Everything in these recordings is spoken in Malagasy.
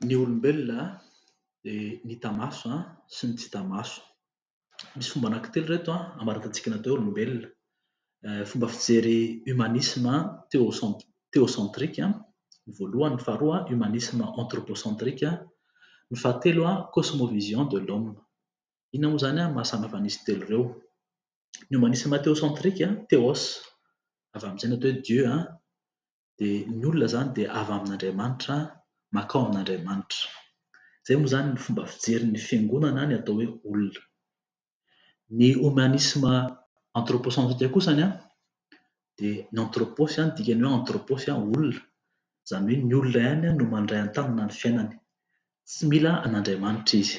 Ny olombelona dia ny hita maso sy ny tsy hita maso. Misy fomba anankitelo ireto hamaritantsika ny atao hoe olombelona. Fomba fijery humanisme théo- théocentrique ny voalohany. Ny faharoa humanisme anthropocentrique. Ny fahatelo cosmovision de l'homme. Inona moa izany no maha samy hafa an'izy telo ireo? ny humanisme théocentrique, theos, avy amin'ny teny atao hoe Dieu, dia ny olona izany dia avy amin'Andriamanitra mankao amin'Andriamanitra. Izay moa izany ny fomba fijerin'ny fiangonana ny atao hoe olona. Ny humanisme anthropocentrique kosa dia ny anthropos, ny dikan'ny hoe anthropos, olona, izany hoe ny olona ihany no mandray an-tanana ny fiainany. Tsy mila an'Andriamanitra izy.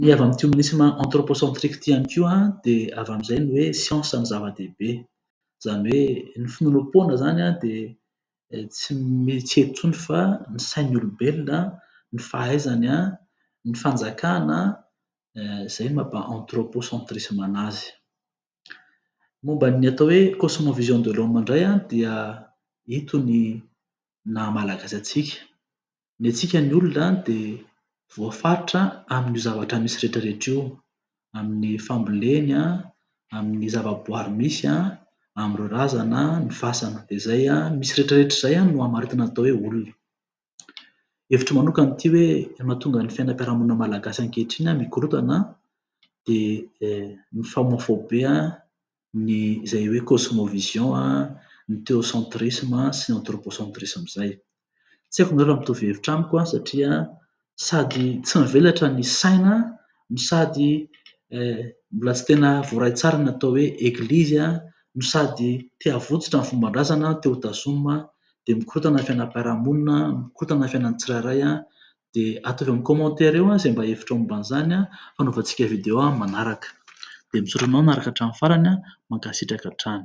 Ny avy amin'ny Humanisme Anthropocentrique ity ihany koa dia avy amin'izay ny hoe siansa no zava-dehibe. Izany hoe ny finoanoam-poana izany dia tsy mieritreritra intsony fa ny sain'ny olombelona, ny fahaizany, ny fanjakana, izay no mampa anthropocentrissme an'azy. Momba ny atao hoe cosmovision de l'homme indray dia ito ny naha malagasy antsika. Ny antsika ny olona dia voafaritra amin'io zavatra misy rehetrarehetra io, amin'ny famboleny, amin'ny zavaboary misy, amin'ireo razana, ny fasana. Dia izay misy rehetrarehetra izay no hamaritina ny atao hoe olona. Hevitro manokana ity hoe ny mahatonga ny fiainam-piarahamonina malagasy ankehitriny mikorontana dia ny famoafobe ny izay hoe cosmovision, ny theocentrisme sy ny anthropocentrisme izay. Tsy haiko nareo raha mitovy hevitra amiko satria sady tsy mivelatra ny saina no sady mbola tsy tena voaray tsara ny atao hoe eglizy no sady te havotsotra ny fomban-drazana te ho tazomina dia mikorontana ny fiainam-piarahamonina, mikorontana ny fiainan'ny tsirairay dia ataovy amin'ny commentaire eo izay mba hevitrao momba an'izany an, fanaovantsika video manaraka. Dia misaotra anao nanaraka hatramin'ny farany an, mankasitraka hatrany.